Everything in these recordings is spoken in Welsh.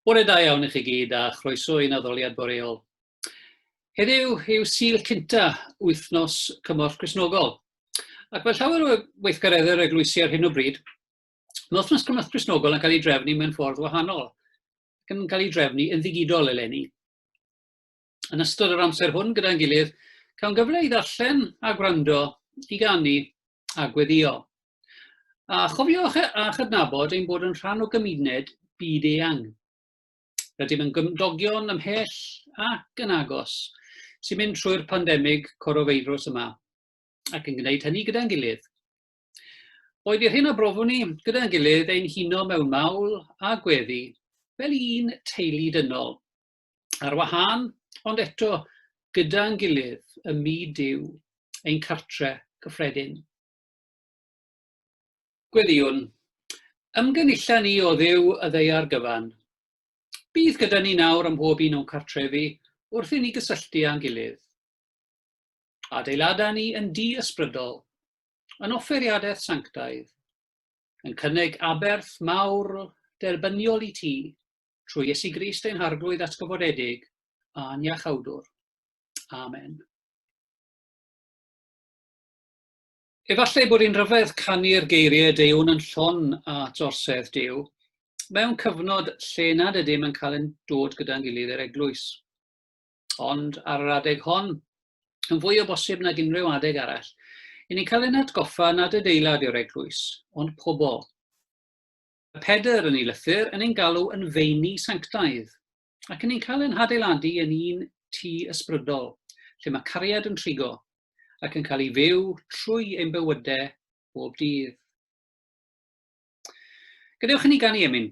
Bore da iawn i chi gyd a chroeso i'n addoliad boreol. Heddiw yw syl cynta wythnos cymorth Cresnogol. Ac mae llawer o weithgareddau'r eglwysi ar hyn o bryd, Mae wythnos cymorth Cristnogol yn cael ei drefnu mewn ffordd wahanol, ac yn cael ei drefnu yn ddigidol eleni. Yn ystod yr amser hwn gyda'n gilydd, cawn gyfle i ddarllen a gwrando, i ganu a gweddio. A chofiwch e- a chydnabod ein bod yn rhan o gymuned byd eang. Rydym yn gymdogion ymhell ac yn agos sy'n mynd trwy'r pandemig corofeirws yma, ac yn gwneud hynny gyda'n gilydd. Oedd i'r hyn a brofwn ni, gyda'n gilydd, ein huno mewn mawl a gweddi, fel un teulu dynol. Ar wahân, ond eto, gyda'n gilydd, ym myd Duw, ein cartre cyffredin. Gweddïwn, ymgynullan ni o Dduw y ddeiar gyfan. Bydd gyda ni nawr ym mhob un o'n cartrefi wrth i ni gysylltu â'n gilydd. Adeilada ni yn di-ysbrydol, yn offeiriadaeth sanctaidd, yn cynnig aberth mawr derbyniol i ti, trwy Iesu Grist ein Harglwydd atgyfodedig a'n Iachawdwr. Amen. Efallai bod hi'n rhyfedd canu'r geiriau deuwn yn llon at orsedd Dyw, mewn cyfnod lle nad ydym yn cael yn dod gyda'n gilydd i'r eglwys. ond ar yr adeg hon, yn fwy o bosib nag unrhyw adeg arall, i ni cael ein atgoffa nad adeilad yw'r eglwys, ond pobl. Y Pedr yn ei lythyr yn ein galw yn feini sanctaidd, ac yn ni'n cael ein hadeiladu yn un tu ysbrydol, lle mae cariad yn trigo, ac yn cael ei fyw trwy ein bywydau bob dydd. Gadewch i ni gan i emyn.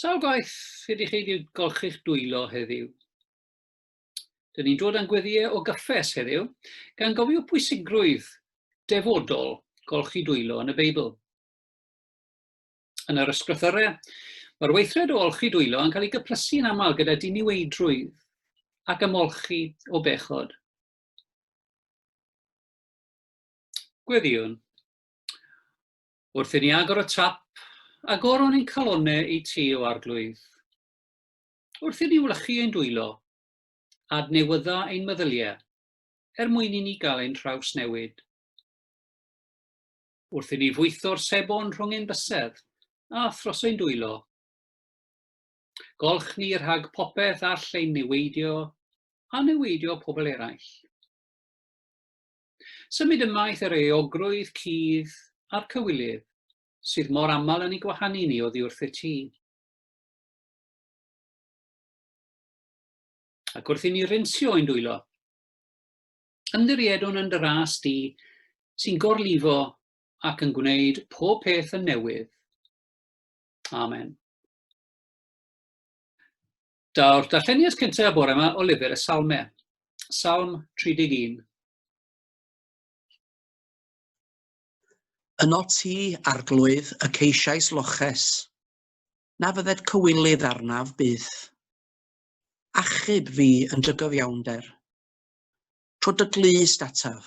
Sawl gwaith ydy chi wedi golchi'ch dwylo heddiw? Dyn ni'n dod â'n gweddiau o gyffes heddiw, gan gofio pwysigrwydd defodol golchi dwylo yn y Beibl. Yn yr ysgrythyrau, mae'r weithred o olchi dwylo yn cael ei gyplysu yn aml gyda diniweidrwydd ac ymolchi o bechod. Gweddïwn. Wrth i ni agor y tap, agoron ein calonne i ti o arglwydd. Wrth i ni wlychu ein dwylo, adnewydda ein meddyliau, er mwyn i ni gael ein newid. wrth i ni fwytho'r sebon rhwng ein bysedd a thros ein dwylo. Golch ni rhag popeth all ein niweidio a niweidio pobl eraill. Symud ymaith yr eogrwydd cudd a'r cywilydd sydd mor aml yn ei gwahanu ni oddi wrth y ti. Ac wrth i ni rinsio ein dwylo, Ymddiriedwn yn dy ras di, sy'n gorlifo ac yn gwneud pob peth yn newydd. Amen. Daw'r darlleniad cyntaf bore yma o lyfr y Salme, Salm 31. Yno ti, arglwydd, y ceisiais loches, na fydded cywilydd arnaf byth. Achub fi yn dy gyfiawnder, trwy dy glust ataf,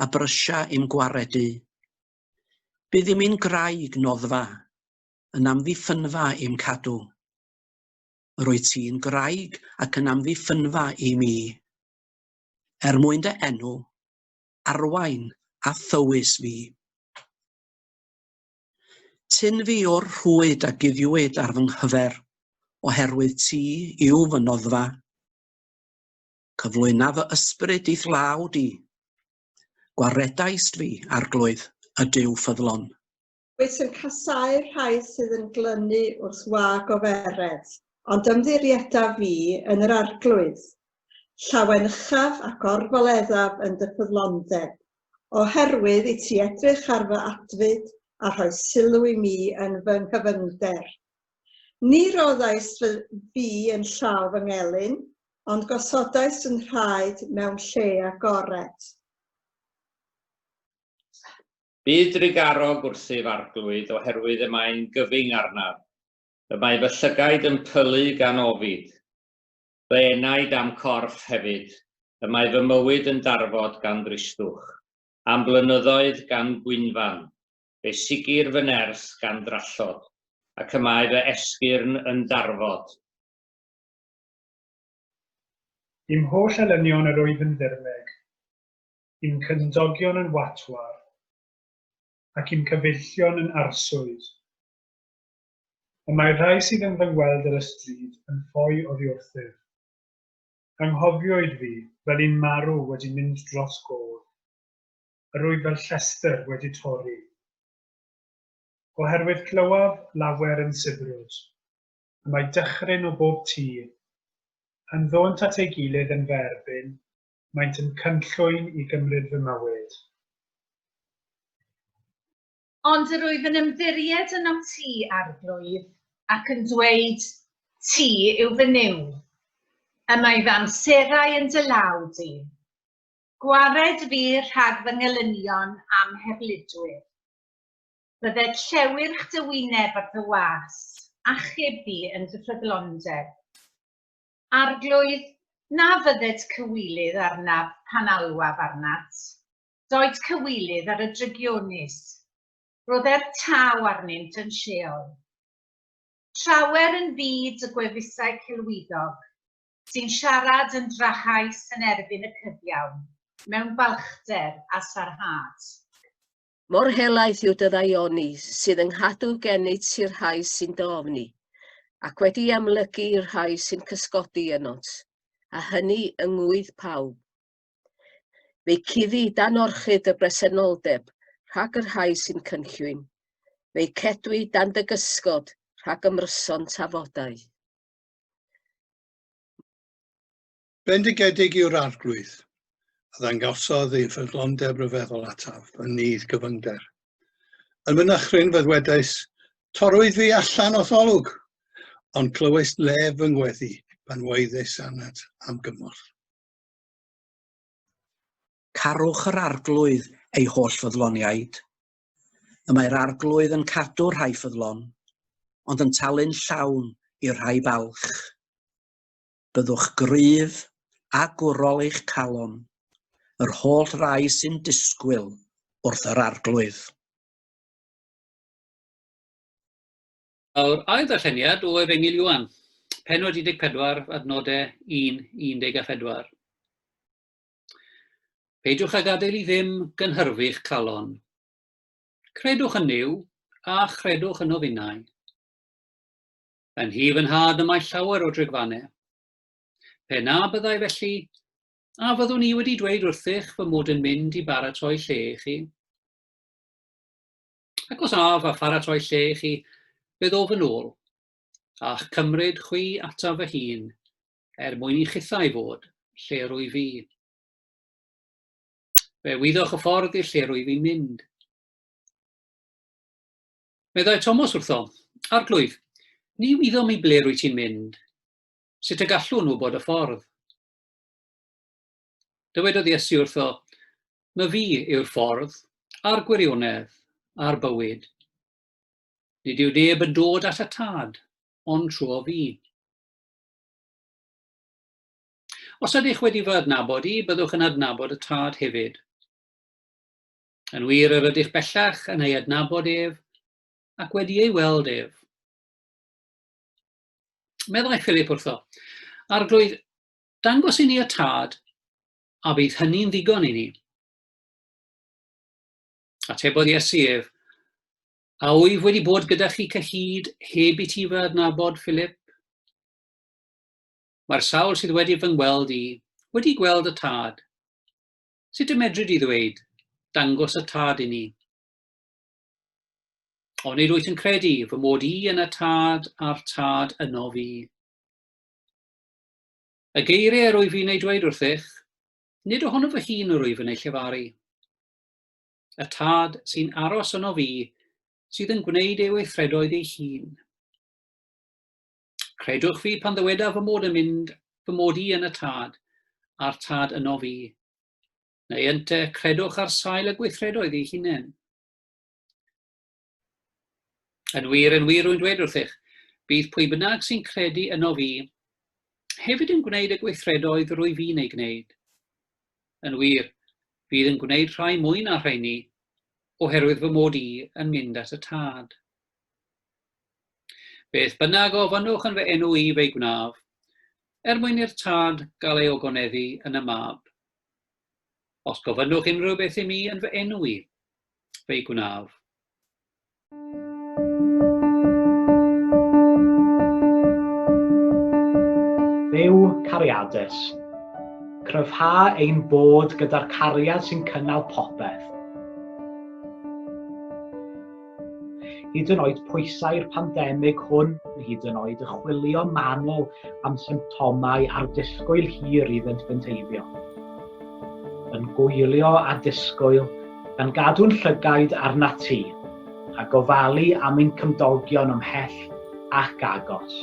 a brysia i'm gwaredu. Bydd i'm un graig noddfa, yn amddiffynfa i'm cadw. Yr wyt ti'n graig ac yn amddiffynfa i mi. Er mwyn dy enw, arwain a thywys fi. Tyn fi o'r rhwyd a guddiwyd ar fy nghyfer, oherwydd ti yw fy noddfa. Cyflwyna fy ysbryd i'th law di. Gwaredaist fi, Arglwydd, y Duw ffyddlon. Wyt yn casáu'r rhai sydd yn glynu wrth wag o feredd, ond ymddirieddaf fi yn yr Arglwydd. Llawen uchaf ac orfoleddaf yn dy ffyddlondeb, oherwydd i ti edrych ar fy adfyd a rhoi sylw i mi yn fy nghyfyngder. Ni roddaist fy fi yn llaw fy ngelyn, ond gosodais yn nhraed mewn lle agored. Bydd drugarog wrthyf Arglwydd, oherwydd y mae'n gyfyng arnaf. Y mae fy llygaid yn pylu gan ofid, fy enaid a'm corff hefyd, y mae fy mywyd yn darfod gan ddristwch, a'm blynyddoedd gan gwynfan, fe sigir fy nerth gan drallod, ac y mae fy esgyrn yn darfod. Dim holl elynion yr oedd yn ddirmeg, dim cymdogion yn watwar, ac i'm cyfeillion yn arswyd. Y mae rhai sydd yn fy ngweld ar y stryd yn ffoi oddi wrthyf. Anghofioid fi fel un marw wedi mynd dros gof. Yr wyf fel llestr wedi torri. Oherwydd clywaf lawer yn sibrwd. y mae dychryn o bob tir. Yn ddônt at ei gilydd yn fy erbyn, maent yn cynllwyn i gymryd fy mywyd. Ond yr wyf yn ymddiried yn ât ti, Arglwydd, ac yn dweud, Ti yw fy niw. Y mae fy amserau yn dy law di. Gwared fi rhag fy ngelynion am heblidwyr. Byddet llewyrch dy wyneb ar dy was, achub di yn dy ffyddlondeb. Arglwydd, na fyddet cywilydd arnaf pan alwaf arnat. Doed cywilydd ar y drygionus. Rhodder taw arnynt yn Sheol. Trawer yn fyd y gwefusau celwyddog, sy'n siarad yn drahaus yn erbyn y cyfiawn, mewn balchder a sarhad. Mor helaeth yw dy ddaioni sydd yng nghadw gennyt ti'r rhai sy'n dy ofni, ac wedi amlygu i'r rhai sy'n cysgodi yno't, a hynny yng ngŵydd pawb. Fe'i cuddi dan orchud dy bresenoldeb rhag y rhai sy'n cynllwyn, fe'i cedwi dan dy gysgod rhag ymryson tafodau. Bendigedig yw'r Arglwydd, a ddangosodd ei ffyddlondeb ryfeddol ataf yn nydd gyfyngder. Yn fy nychryn fe ddwedais, Torrwyd fi allan o'th olwg, ond clywais lef fy ngweddi pan waeddes anad am gymorth. Carwch yr Arglwydd, ei holl ffyddloniaid. Y mae'r Arglwydd yn cadw rhai ffyddlon, ond yn talu'n llawn i'r rhai balch. byddwch gryf a gwrol eich calon, yr holl rai sy'n disgwyl wrth yr Arglwydd. Yr ail ddarlleniad o Efengyl Ioan, pennod 14, adnodau 1 i 14. Peidiwch a gadael i ddim gynhyrfu'ch calon. Credwch yn Nuw, a chredwch yno finnau. Yn hi fy nhad y mae llawer o drigfanau. Pe na byddai felly, a fyddwn i wedi dweud wrthych fy mod yn mynd i baratoi lle i chi? Ac os a fa pharatoi lle i chi, fe ddof yn ôl, a'ch cymryd chwi ataf fy hun, er mwyn i chithau fod lle rwy fi. Fe wyddoch y ffordd i'r lle rwy fi'n mynd. Meddai Tomos wrtho, Arglwydd, ni wyddom i ble rwy ti'n mynd. Sut y gallwn nhw bod y ffordd? Dywedodd Iesu wrtho, Mae fi yw'r ffordd, a'r gwirionedd, a'r bywyd. Nid yw neb yn dod at y tad, ond trwy o fi. Os ydych wedi fy adnabod i, byddwch yn adnabod y tad hefyd. Yn wir yr ydych bellach yn ei adnabod ef ac wedi ei weld ef. Meddai Philip wrtho, Arglwydd, dangos i ni y tad, a bydd hynny'n ddigon i ni. Atebodd Iesu ef, A wyf wedi bod gyda chi cyhyd heb i ti fy adnabod, Philip? Mae'r sawl sydd wedi fy ngweld i, wedi gweld y tad. Sut y medru di ddweud, dangos y tad i ni? Onid wyt yn credu fy mod i yn y tad a'r tad yno fi? Y geiriau yr wyf i'n ei dweud wrthych, nid ohono fy hun yr wyf yn ei llefaru. Y tad sy'n aros yno fi sydd yn gwneud ei weithredoedd ei hun. Credwch fi pan ddyweda fy mod yn mynd, fy mod i yn y tad, a'r tad yno fi. Neu ynte, credwch ar sail y gweithredoedd ei hunain. Yn wir, yn wir rwy'n dweud wrthych, bydd pwy bynnag sy'n credu yno fi, hefyd yn gwneud y gweithredoedd rwy fi'n ei gwneud. Yn wir, fydd yn gwneud rhai mwy na rheini, oherwydd fy mod i yn mynd at y tad. Beth bynnag ofynnwch yn fy enw i fe'i gwnaf, er mwyn i'r Tad gael ei ogoneddu yn y mab. Os gofynnwch unrhyw beth i mi yn fy enw i, fe'i gwnaf. Dduw cariadus. Cryfha ein bod gyda'r cariad sy'n cynnal popeth. Hyd yn oed pwysau'r pandemig hwn, hyd yn oed y chwilio manwl am symptomau a'r disgwyl hir i fynd bynteifio. Yn gwylio a disgwyl, gan gadw'n llygaid arna ti, a gofalu am ein cymdogion ymhell ac agos.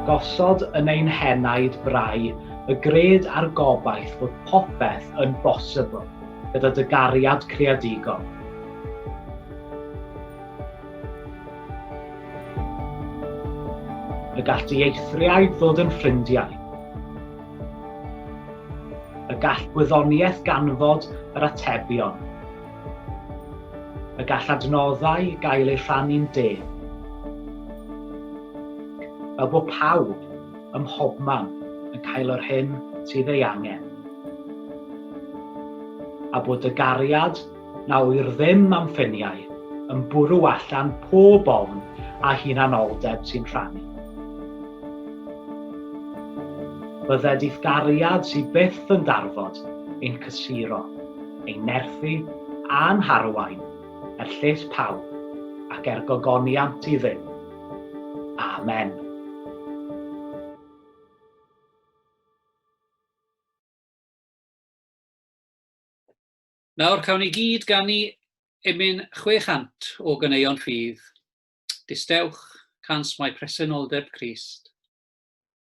Gosod yn ein henaid brau y gred a'r gobaith fod popeth yn bosibl gyda dy gariad creadigol. Y gall dy eithriaid ddod yn ffrindiau. Y gall gwyddoniaeth ganfod yr atebion. Y gall adnoddau gael eu rhannu'n deg. Fel bod pawb, ym mhobman, yn cael yr hyn sydd ei angen. A bod dy gariad, na ŵyr ddim am ffyniau, yn bwrw allan pob ofn a hunanoldeb sy'n rhannu. Bydded i'th gariad sydd byth yn darfod ein cysuro. ei nerthu a'n harwain er lles pawb ac er gogoniant iddynt. Amen. Nawr cawn ni gyd ganu emyn 600 o ganeuon rhydd. Distewch, cans mae presenoldeb Crist.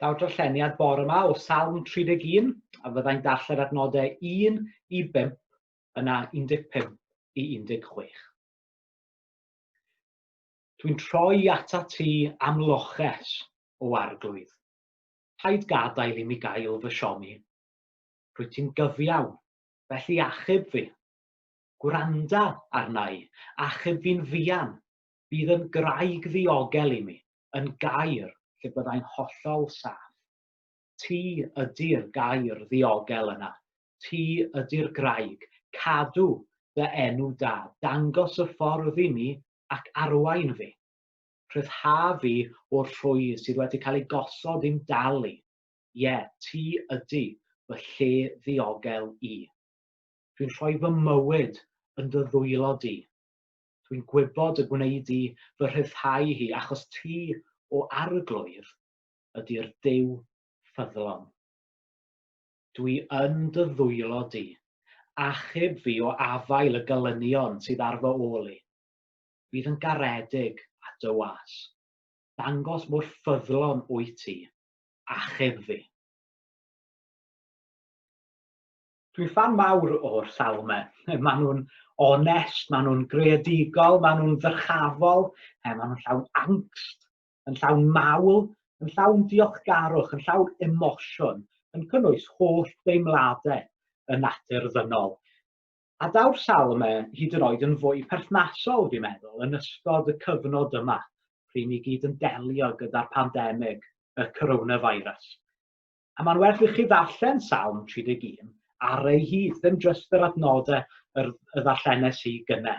daw'r darlleniad bore yma o Salm 31, a fyddai'n darllen adnodau 1 i 5, yna 15 i 16. Dwi'n troi ata ti am loches, o arglwydd. Paid gadael i mi gael fy siomi. Rwy ti'n gyfiawn, felly achub fi. Gwranda arna i, achub fi'n fuan, Bydd yn graig ddiogel i mi, yn gair lle byddai'n hollol saff. Ti ydi'r gair ddiogel yna. Ti ydi'r graig. Cadw dy enw da. Dangos y ffordd i mi ac arwain fi. Rhyddha fi o'r rhwy sydd wedi cael ei gosod i'm dal i. Ie, ti ydi fy lle ddiogel i. Dwi'n rhoi fy mywyd yn dy ddwylo di. Dwi'n gwybod y gwneud i fy rhyddhau hi, achos ti, o Arglwydd, ydy'r Duw ffyddlon. Dwi yn dy ddwylo di, achub fi o afael y gelynion sydd ar fy ôl i. Bydd yn garedig a dy was. Dangos mor ffyddlon wyt ti, achub fi. Dwi'n fan mawr o'r sawl yma. Maen nhw'n onest, maen nhw'n greadigol, maen nhw'n ddyrchafol, eh, maen nhw'n llawn angst, yn llawn mawl, yn llawn diolchgarwch, yn llawn emosiwn, yn cynnwys holl deimladau y natur ddynol. A daw'r sawl yma hyd yn oed yn fwy perthnasol, fi'n meddwl, yn ystod y cyfnod yma, pryd ni gyd yn delio gyda'r pandemig, y coronavirus. A mae'n werth i chi ddarllen Salm 31 ar ei hyd, ddim jyst yr adnodau yr, y ddarllenes i gyne.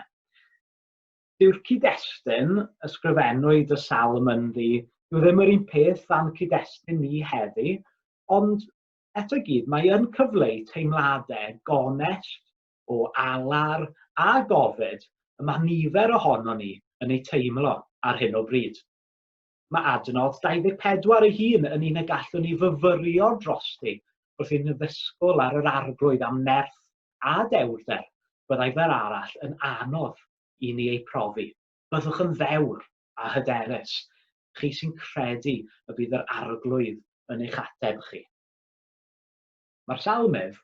Dyw'r cyd-destun ysgrifennwyd y Salm ynddi, dyw ddim yr un peth dan cyd-destun ni heddi, ond eto gyd mae yn cyfleu teimladau gonest o alar a gofid y mae nifer ohono ni yn ei teimlo ar hyn o bryd. Mae adnodd 24 ei hun yn un y gallwn ni fyfyrio drosti wrth i'n ddysgwyl ar yr arglwydd am nerth a dewrder byddai fel arall yn anodd i ni ei profi. Byddwch yn ddewr a hyderus, chi sy'n credu y bydd yr arglwydd yn eich ateb chi. Mae'r Salmydd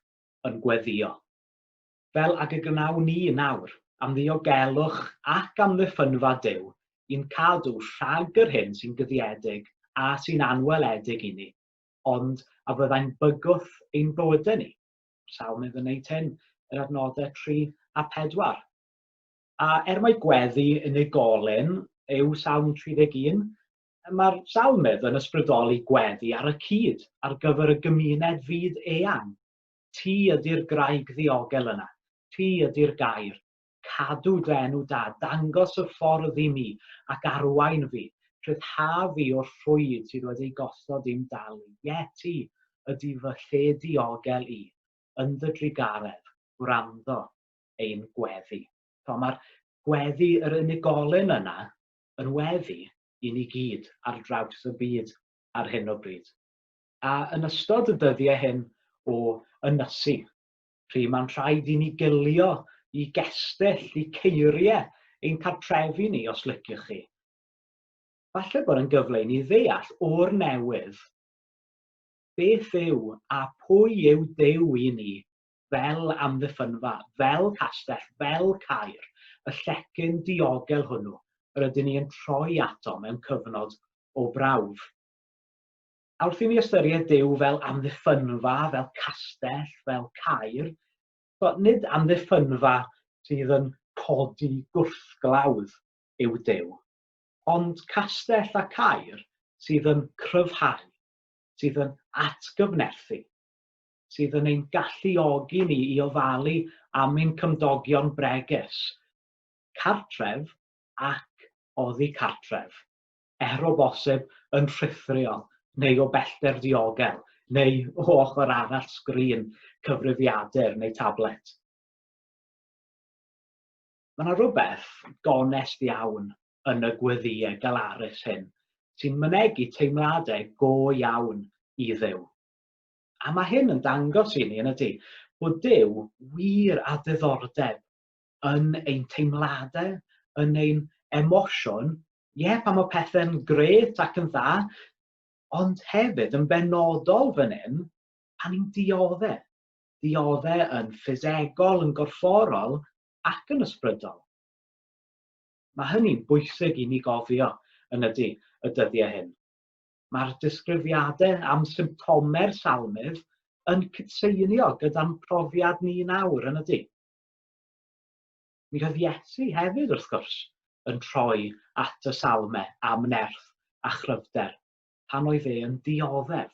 yn gweddïo. fel ag y gwnawn ni nawr, am ddiogelwch ac amddiffynfa Duw, i'n cadw rhag yr hyn sy'n guddiedig a sy'n anweledig i ni, ond a fyddai'n bygwth ein bywydau ni. Sawl mynd yn wneud hyn? Yr adnodau 3 a 4. A er mae gweddi unigolyn yw Salm 31, mae'r salmydd yn ysbrydoli gweddi ar y cyd ar gyfer y gymuned fyd eang. Ti ydy'r graig ddiogel yna. Ti ydy'r gair. Cadw dy enw da. Dangos y ffordd i mi, ac arwain fi. Rhyddhaf fi o'r rhwyd sydd wedi gosod i'm dal i. Ie, ti ydy fy lle diogel i. Yn dy drugaredd, gwrando ein gweddi. T'mo, mae'r gweddi, yr unigolyn yna, yn weddi i ni gyd ar draws y byd ar hyn o bryd. a yn ystod y dyddiau hyn o ynysu, pryd mae'n rhaid i ni gylio i gestyll, i ceiriau ein cartrefi ni, os liciwch chi. Falle bod yn gyfle i ni ddeall o'r newydd beth yw a pwy yw Dew i ni fel amddiffynfa, fel castell, fel cair, y llecyn diogel hwnnw yr ydyn ni yn troi ato mewn cyfnod o brawf. A wrth i ni ystyried Duw fel amddiffynfa, fel castell, fel cair, so, nid amddiffynfa sydd yn codi gwrthglawdd yw Duw, ond castell a cair sydd yn cryfhau, sydd yn atgyfnerthu, sydd yn ein galluogi ni i ofalu am ein cymdogion bregus, cartref ac oddi cartref. er o bosib yn rhithriol neu o bellter diogel neu o ochr arall sgrin cyfrifiadur neu tablet. Mae yna rywbeth gonest iawn yn y gweddïau galarus hyn sy'n mynegi teimladau go iawn i Dduw. A mae hyn yn dangos i ni, yn ydy, bod Duw wir â diddordeb yn ein teimladau, yn ein emosiwn ie, pan mae pethau'n gret ac yn dda, ond hefyd yn benodol fan hyn, pan ni'n dioddau. Dioddau yn ffisegol, yn gorfforol ac yn ysbrydol. Mae hynny'n bwysig i ni gofio yn ydy y dyddiau hyn. Mae'r disgrifiadau am symptomau'r salmydd yn cydseinio gyda'n profiad ni nawr yn ydy. Mi oedd Iesu hefyd, wrth gwrs, yn troi at y Salme am nerth a chryfder pan oedd e yn dioddef.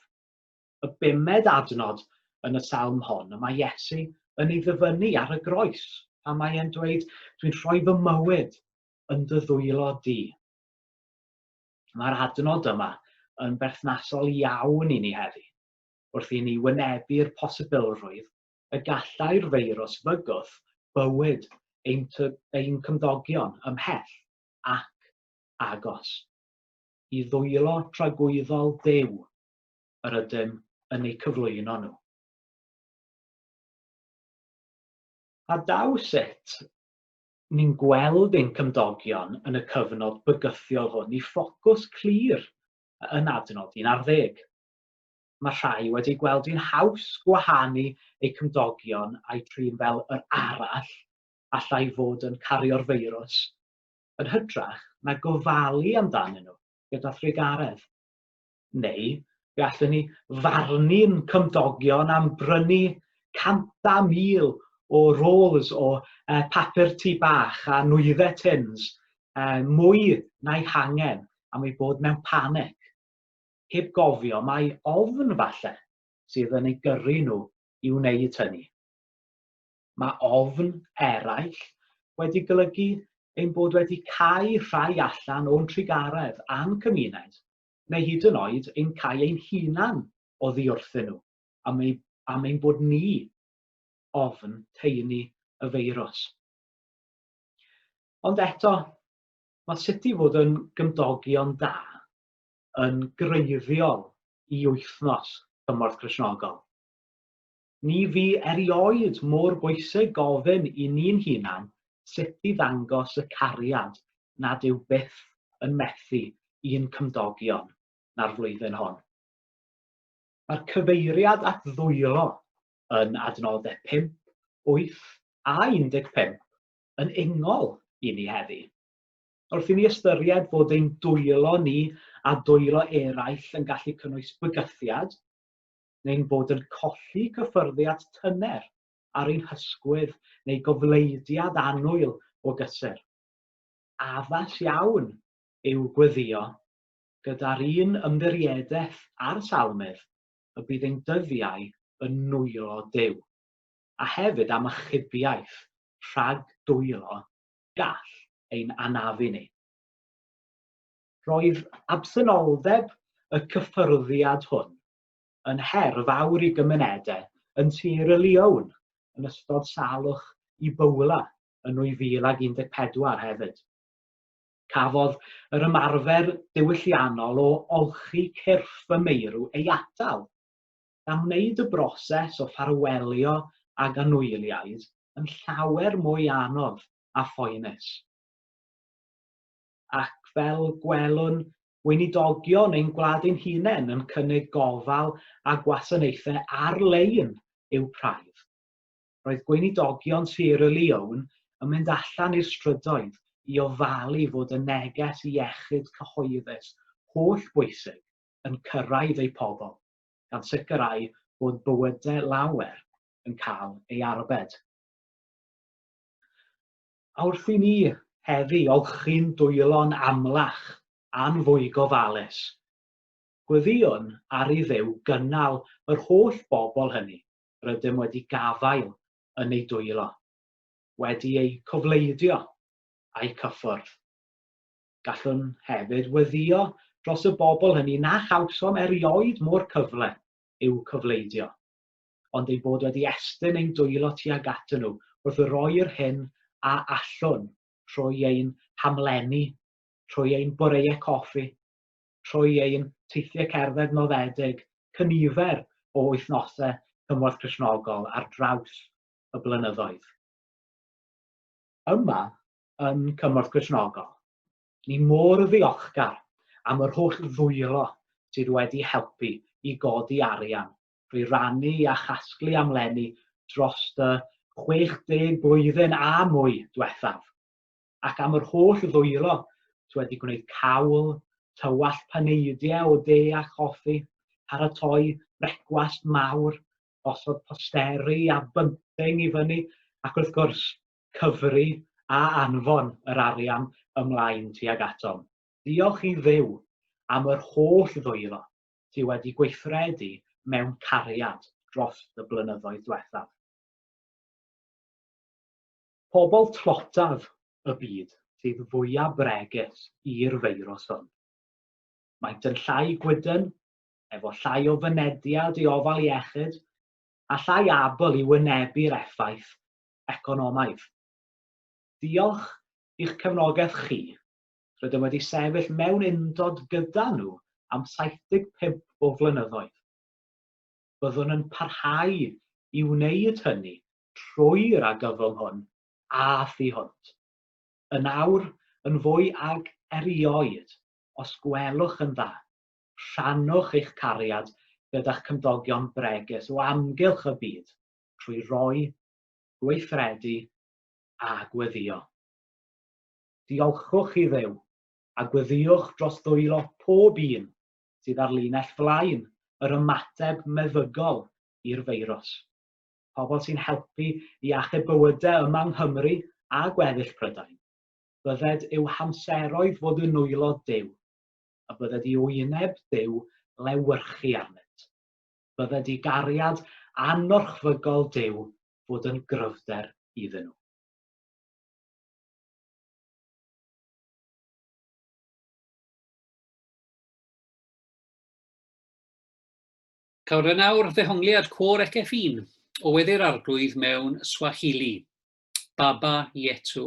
Y bumed adnod yn y Salm hon y mae Iesu yn ei ddyfynnu ar y groes pan mae e'n dweud, Dwi'n rhoi fy mywyd yn dy ddwylo di. Mae'r adnod yma yn berthnasol iawn i ni heddi, wrth i ni wynebu'r posibilrwydd y gallai'r feirws fygwth bywyd ein cymdogion ymhell ac agos i ddwylo tragwyddol Duw yr ydym yn eu cyflwyno nhw. A daw sut ni'n gweld ein cymdogion yn y cyfnod bygythiol hwn i ffocws clir yn adnod 11. mae rhai wedi gweld hi'n haws gwahanu eu cymdogion a'u trin fel yr arall allai fod yn cario'r feirws, yn hytrach na gofalu amdanyn nhw gyda thrugaredd. Neu, fe allen ni farnu'n cymdogion am brynu canta mil o rolls o uh, papur tu bach a nwyddau tins uh, mwy na'i hangen am ei bod mewn panic. heb gofio mai ofn falle sydd yn ei gyrru nhw i wneud hynny. Mae ofn eraill wedi golygu ein bod wedi cau rhai allan o'n trugaredd a'n cymuned, neu hyd yn oed ein cau ein hunan o ddiwrthyn nhw am ei am ein bod ni ofn teini y feirws. Ond eto, mae sut i fod yn gymdogion da yn greiddiol i Wythnos Cymorth Gristnogol. Ni fu erioed mor bwysig gofyn i ni'n hunan sut i ddangos y cariad nad yw byth yn methu i'n cymdogion na'r flwyddyn hon. Mae'r cyfeiriad at ddwylo yn adnoddau 5, 8 a 15 yn ungol i ni heddi. Wrth i ni ystyried fod ein dwylo ni a dwylo eraill yn gallu cynnwys bygythiad, neu'n bod yn colli cyffyrddiad tyner ar ein hysgwydd neu gofleidiad annwyl o gysur, addas iawn yw gweddïo, gyda'r un ymddiriedaeth â'r Salmydd, y bydd ein dyddiau yn nwylo Duw, a hefyd am achubiaeth rhag dwylo gall ein anafu ni. Roedd absenoldeb y cyffyrddiad hwn yn her fawr i gymunedau yn Tir y Liawn yn ystod salwch i Bowla yn 2014 hefyd. Cafodd yr ymarfer diwylliannol o olchi cyrff y meirw ei atal, gan wneud y broses o ffarwelio ag anwyliaid yn llawer mwy anodd a phoenus. Ac fel gwelwn, weinidogion ein gwlad ein hunain yn cynnig gofal a gwasanaethau ar-lein i'w praidd. Roedd gweinidogion Sierra Leone yn mynd allan i'r strydoedd i ofalu fod y neges iechyd cyhoeddus holl bwysig yn cyrraedd eu pobl. gan sicrhau bod bywydau lawer yn cael ei arbed. A wrth i ni heddi olchi'n dwylo'n amlach a'n fwy gofalus, gweddïwn ar i Dduw gynnal yr holl bobl hynny rydym wedi gafael yn eu dwylo, wedi eu cofleidio a'u cyffwrdd. Gallwn hefyd weddïo dros y bobl hynny na chawsom erioed mo'r cyfle i'w cofleidio, ond eu bod wedi estyn ein dwylo tuag atyn nhw wrth roi'r hyn a allwn, trwy ein hamlenni, trwy ein boreau coffi, trwy ein teithiau cerdded noddedig, cynifer o wythnosau cymorth Cristnogol ar draws y blynyddoedd. Yma, yn Cymorth Gristnogol. Ni mor ddiolchgar am yr holl ddwylo sydd wedi helpu i godi arian drwy rannu a chasglu am leni dros y 60 blwyddyn a mwy dwethaf, ac am yr holl ddwylo sy wedi gwneud cawl, tywallt paneidiau o de a choffi, paratoi brecwast mawr, gosod posteri a bunting i fyny, ac wrth gwrs, cyfri a anfon yr arian ymlaen tuag atom. Diolch i Dduw am yr holl ddwylo sy wedi gweithredu mewn cariad dros y blynyddoedd dwethaf. Pobl tlotaf y byd sydd fwya bregus i'r feirws hwn. Maent yn llai gwydn, efo llai o fynediad i ofal iechyd, a llai abl i wynebu'r effaith economaidd. Diolch i'ch cefnogaeth chi, rydym wedi sefyll mewn undod gyda nhw am 75 o flynyddoedd. Byddwn yn parhau i wneud hynny trwy'r argyfwng hwn a thu hwnt. Yn awr, yn fwy ag erioed, os gwelwch yn dda, rhannwch eich cariad gyda'ch cymdogion bregus o amgylch y byd, trwy roi, gweithredu a gweddïo. Diolchwch i Dduw a gweddïwch dros ddwylo pob un sydd ar linell flaen yr ymateb meddygol i'r feirws, pobl sy'n helpu i achub bywydau yma yng Nghymru a gweddill Prydain. Bydded yw hamseroedd fod yn nwylo Duw, a bydded i wyneb Duw lewyrchu arnynt. bydde di gariad anorchfygol Duw fod yn gryfder iddyn nhw. Cawr yn awr ddehongliad cwr Ekefin o weddi'r arglwydd mewn Swahili, Baba Yetu.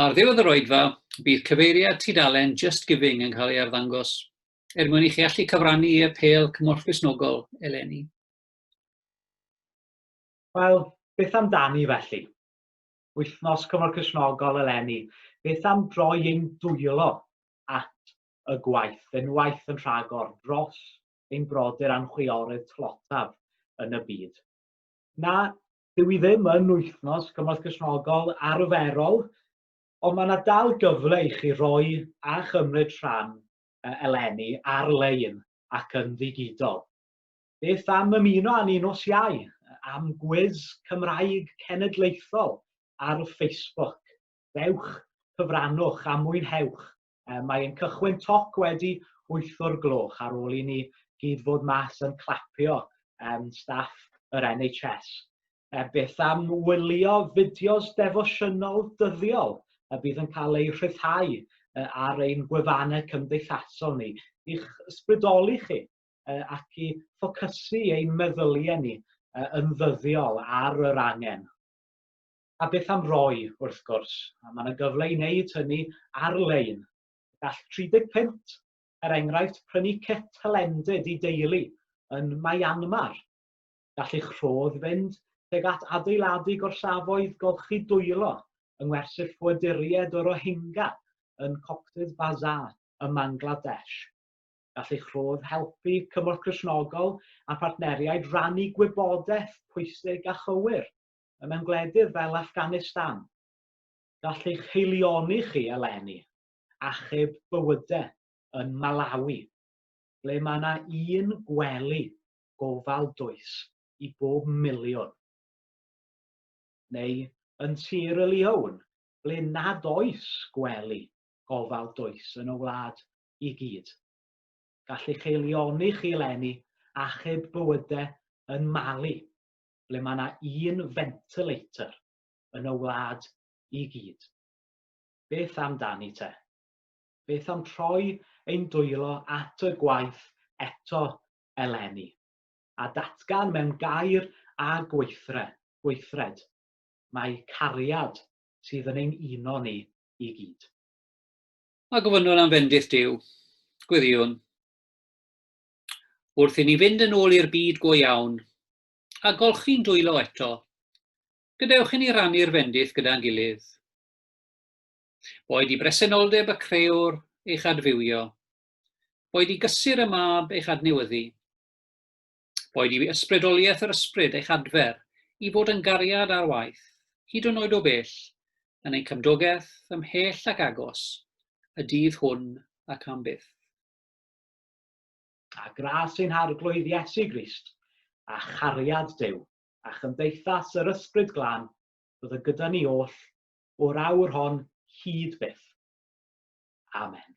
Ar ddiwedd yr oedfa, bydd cyfeiriad tudalen Just Giving yn cael ei arddangos, er mwyn i chi allu cyfrannu i apêl Cymorth Gristnogol eleni. Wel, beth amdani felly? Wythnos Cymorth Gristnogol eleni, beth am droi ein dwylo at y gwaith yn waith yn rhagor dros ein brodyr a'n chwiorydd tlotaf yn y byd. Na, dyw i ddim yn wythnos cymorth Gristnogol arferol, ond mae yna dal gyfle i chi roi a chymryd rhan eleni ar-lein ac yn ddigidol. Beth am ymuno â ni nos Iau am gwis Cymraeg Cenedlaethol ar Facebook? Dewch, cyfrannwch a mwynhewch. Um, mae ein cychwyn toc wedi 8 o'r gloch ar ôl i ni gyd fod mas yn clapio um, staff yr NHS. E, beth am wylio fideos defosiynol dyddiol y bydd yn cael eu rhyddhau e, ar ein gwefannau cymdeithasol ni i'ch ysbrydoli chi e, ac i ffocysu ein meddyliau ni e, yn ddyddiol ar yr angen. A beth am roi, wrth gwrs, a mae yna gyfle i wneud hynny ar-lein. Gall 30 punt, er enghraifft, prynu cit hylendid i deulu yn Myanmar. Gall eich rhodd fynd tuag at adeiladu gorsafoedd golchi dwylo yng ngwersyll ffoaduriaid y Rohingya yn Cox's Bazar ym Mangladesh. Gall eich rhodd helpu cymorth Cristnogol a phartneriaid rannu gwybodaeth pwysig a chywir y mewn gwledydd fel Afghanistan. Gall eich heilioni chi eleni achub bywyde yn Malawi, ble mae yna un gwely gofal dwys i bob miliwn. Neu yn Sierra Leone, ble nad oes gwely gofal dwys yn y wlad i gyd. Gall eich heilioni chi eleni achub bywyde yn Mali, ble mae yna un ventilator yn y wlad i gyd. Beth amdani te? Beth am troi ein dwylo at y gwaith eto eleni, a datgan mewn gair a gweithre, gweithred, mae cariad sydd yn ein uno ni i gyd. A gofynnwn am fendith Duw, gwiriwn, wrth i ni fynd yn ôl i'r byd go iawn, a golchi'n dwylo eto. Gadewch i ni rannu'r fendith gyda'n gilydd. Boed i bresenoldeb y creewr eich adfywio, boed i gysur y mab eich adnewyddu, boed i ysbrydoliaeth yr ysbryd eich adfer i fod yn gariad ar waith, hyd yn oed o bell, yn ein cymdogaeth, ymhell ac agos, y dydd hwn ac am byth. a gras ein Harglwydd Iesu Grist, a chariad Duw, a chymdeithas yr Ysbryd Glân, fydd yn gyda ni oll, o'r awr hon hyd byth. Amen.